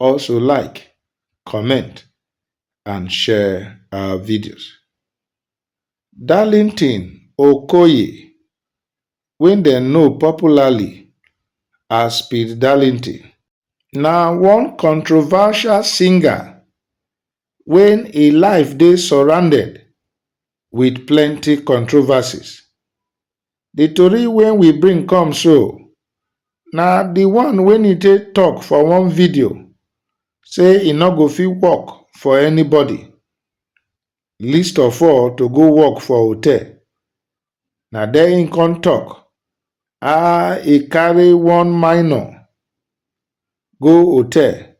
Also like, comment and share our videos. Darlington Okoye wey dem know popularly as Speed Darlington na one controversial singer wey im life dey surrounded with plenty controversies The tori wey we bring come so na the one wey Nite talk for one video say e no go fit work for anybody least of all to go work for hotel. Na there im come talk how e carry one minor go hotel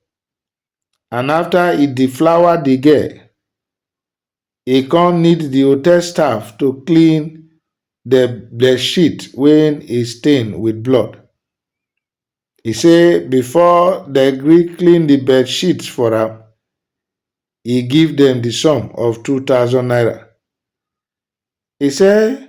and after e deflower the girl, e come need di hotel staff to clean di bedsheet wey e stain wit blood. E say before dem gree clean di bedsheet for am, e give dem di sum of two thousand naira. E say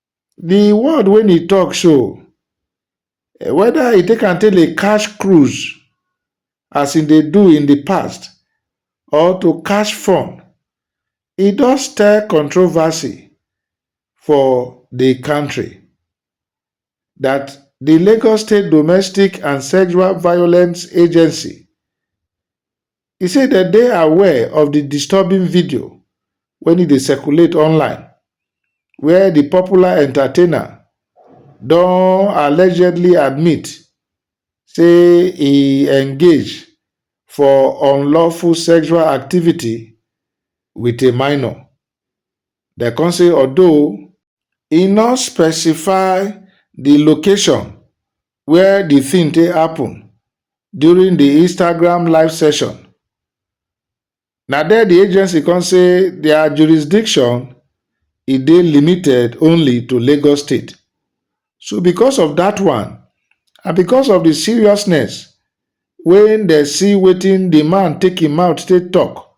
The word wey he talk so, whether he take am take dey catch cruise as he dey do in the past or to catch fun, he don stir controversy for the country that the Lagos State Domestic and Sexual Violence Agency, E say dem dey aware of di disturbing video wen e dey circulate online where di popular entertainer don allegedly admit say e engage for unlawful sexual activity wit a minor. Dem come say although. E no specify di location wia di tin take happun during di Instagram live session. Na there di agency come say dia jurisdiction e dey limited only to Lagos State. So because of dat one and because of di seriousness wey dem see wetin di man take im mouth take tok,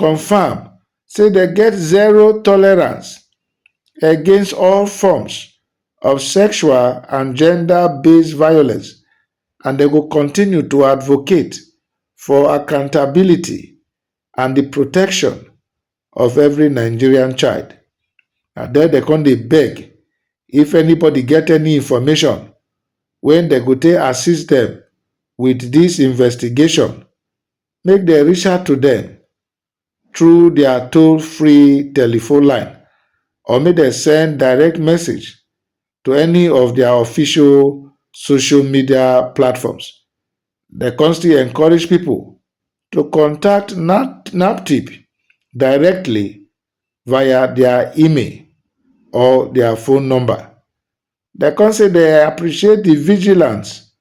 confam say dem get zero tolerance against all forms of sexual and gender-based violence and dem go continue to advocate for accountability and di protection of every Nigerian child. Na there dem come dey beg if anybody get any information wey dem go take assist dem with dis investigation make dem reach out to dem through dia toll free telephone line or make dem send direct message to any of dia official social media platforms. Dem kon still encourage pipo to contact NAPTIP directly via dia email or dia phone number. Dem kon say dem appreciate di vigilance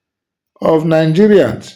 of Nigerians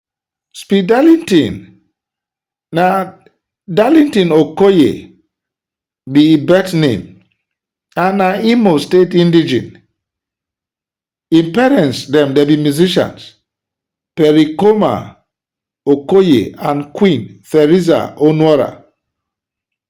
Speed Darlington na Darlington Okoye be im birth name and na Imo State indigene. Im parents dem dem be musicians, Pericoma Okoye and Queen Theresa Onuora.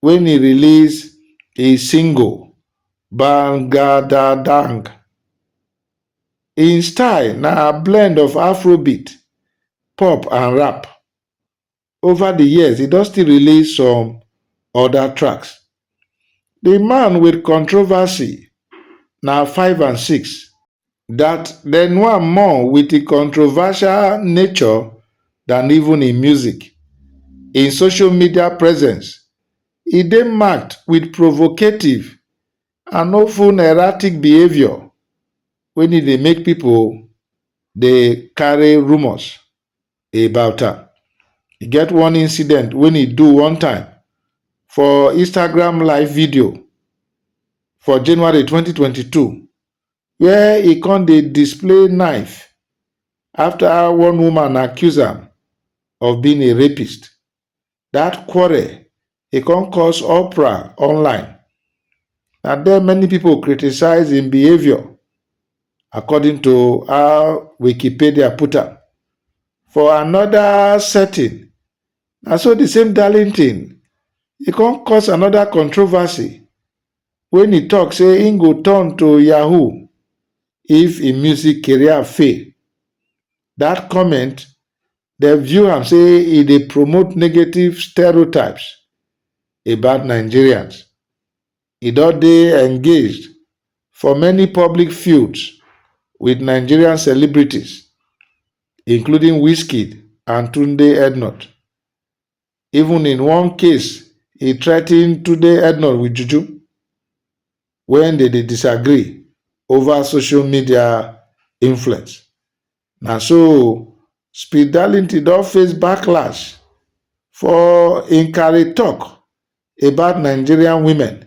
wen e release e single Bangadadang. Im style na blend of Afrobeat, pop and rap. Over di years, e don still release some oda tracks. Di man wit controversy na five and six. dat dem know am more wit im controversial nature dan even im music. Im social media presence e dey marked wit provocative and often erratic behaviour wen e dey make pipo dey carry rumours about am. E get one incident wen e do one time for Instagram live video for January twenty twenty two where e come dey display knife after one woman accuse am of being a rapist. That quarrel e come cause uproar online. Na there many people criticize im behaviour according to how Wikipedia put am. For another setting, na so the same Darlington e come cause another controversy wey he talk say he go turn to yahoo if he music career fail. That comment dem view am say e dey promote negative stereotypes about Nigerians. He don dey engaged for many public feuds with Nigerian celebrities including Wizkid and Tunde Ednut. Even in one case, he threatened Tunde Ednor with juju when they dey disagree over social media influence. Na so Speed Darlington don face backlash for im carry talk about Nigerian women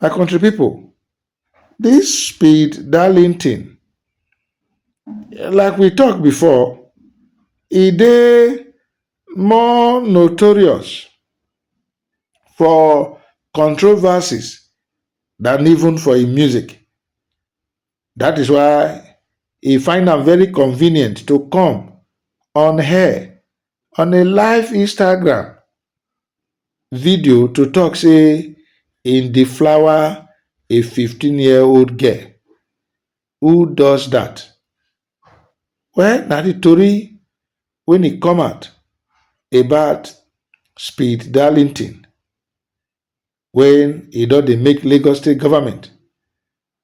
My country people, this speed darlington, like we talk before, e dey more notorious for controversies than even for im music. That is why e find am very convenient to come on air on a live Instagram video to tok say im dey flower a 15-year-old girl who does dat? Well na di tori wen e come out about Speed Darlington wen e don dey make Lagos State Government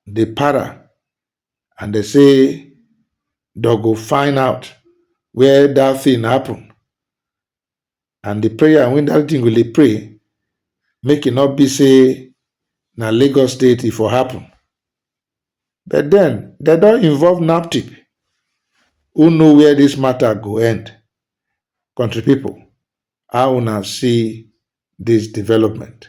dey para and dem say dem go find out where dat thing happen and the prayer wey that thing go dey pray make e not be say na Lagos state e for happen but then they don involve NAPTIP who know where this matter go end country people how una see this development.